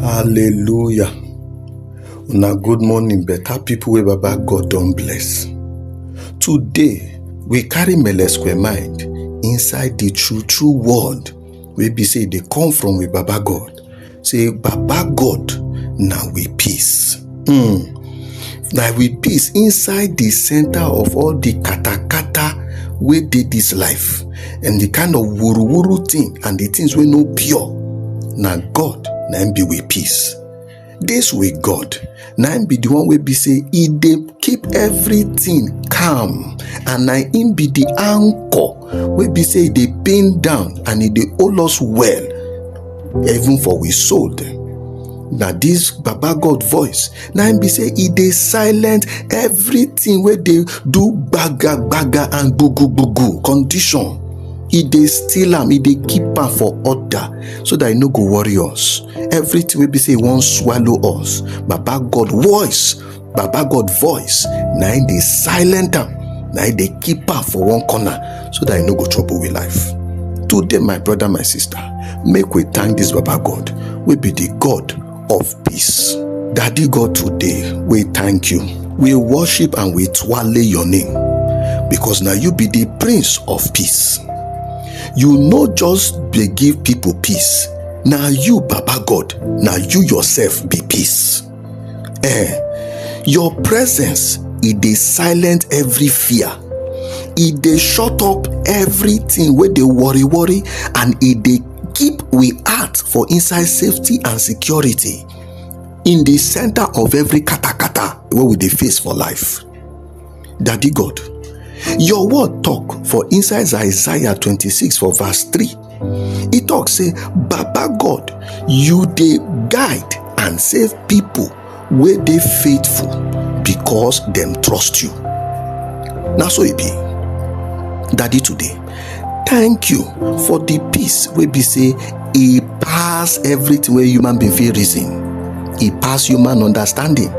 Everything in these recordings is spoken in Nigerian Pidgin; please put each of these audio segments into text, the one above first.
hallelujah una good morning better people wey baba god don bless today we carry mele square mind inside the true true word wey be say e dey come from we baba god say baba god na we peace um na with peace inside di center of all di katakata wey dey dis life and di kind of wuruwuru thing and di things wey no pure na god na im be with peace dis with god na im be di one wey be say e dey keep everything calm and na im be di anchor wey be say e dey pin down and e dey hold us well even for we soul dem na dis baba god voice na im be say e dey silent everything wey dey do gbaga gbaga and gbugu gbugu condition e dey steal am e dey keep am for order so that e no go worry us everything wey be say e wan swallow us baba god voice baba god voice na im dey silent am na im dey keep am for one corner so that e no go trouble we life today my brother my sister make we thank this baba god wey be the god of peace daddy god today we thank you we worship and we twale your name because na you be the prince of peace you no just dey give people peace na you baba god na you yourself be peace Eh, your presence e dey silent every fear e dey shut up everything wey dey worry worry and e dey keep we heart for inside safety and security in the center of every katakata wey we dey face for life Daddy God, your word talk for inside Isaiah 26 for verse 3. He talk say, Baba God, you dey guide and save people wey dey faithful because dem trust you. Na so e be. Daddy today, thank you for the peace wey be say e pass everything wey human being fit reason e pass human understanding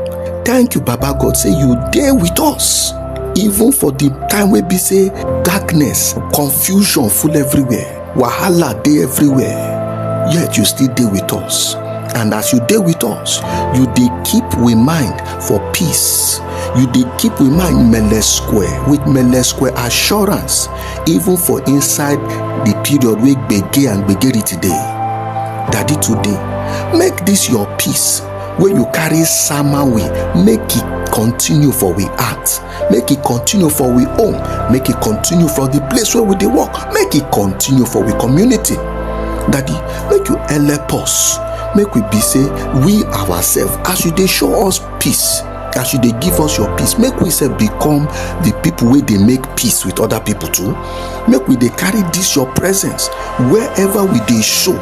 thank you baba god say you dey with us even for the time wey be say darkness confusion full everywhere wahala dey everywhere yet you still dey with us and as you dey with us you dey keep we mind for peace you dey keep we mind mele square with mele square assurance even for inside the period wey gbege and gbegerity dey daddy today make this your peace wey you carry sama we make e continue for we heart make e continue for we home make e continue for the place where we dey work make e continue for we community daddy make you help us make we be say we ourselves as you dey show us peace as you dey give us your peace make we sef become the people wey dey make peace with other people too make we dey carry this your presence wherever we dey show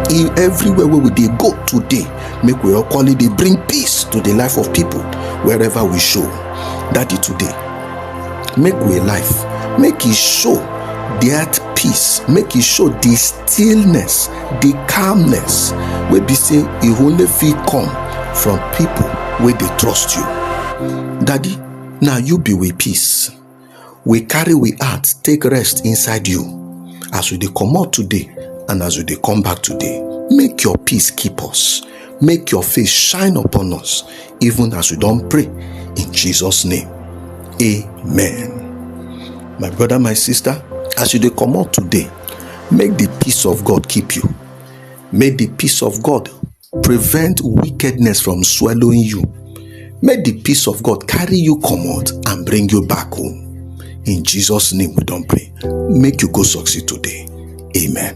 in everywhere wey we dey go today make we equally dey bring peace to the life of people wherever we show daddy today make we life make e show that peace make e show the stillness the calmness wey be say e only fit come from people wey dey trust you daddy na you be we peace we carry we heart take rest inside you as we dey comot today and as we dey come back today make your peace keep us make your face shine upon us even as we don pray in jesus name amen my brother my sister as you dey comot today make the peace of god keep you make the peace of god prevent wickedness from swallowing you make the peace of god carry you comot and bring you back home in jesus name we don pray make you go succeed today amen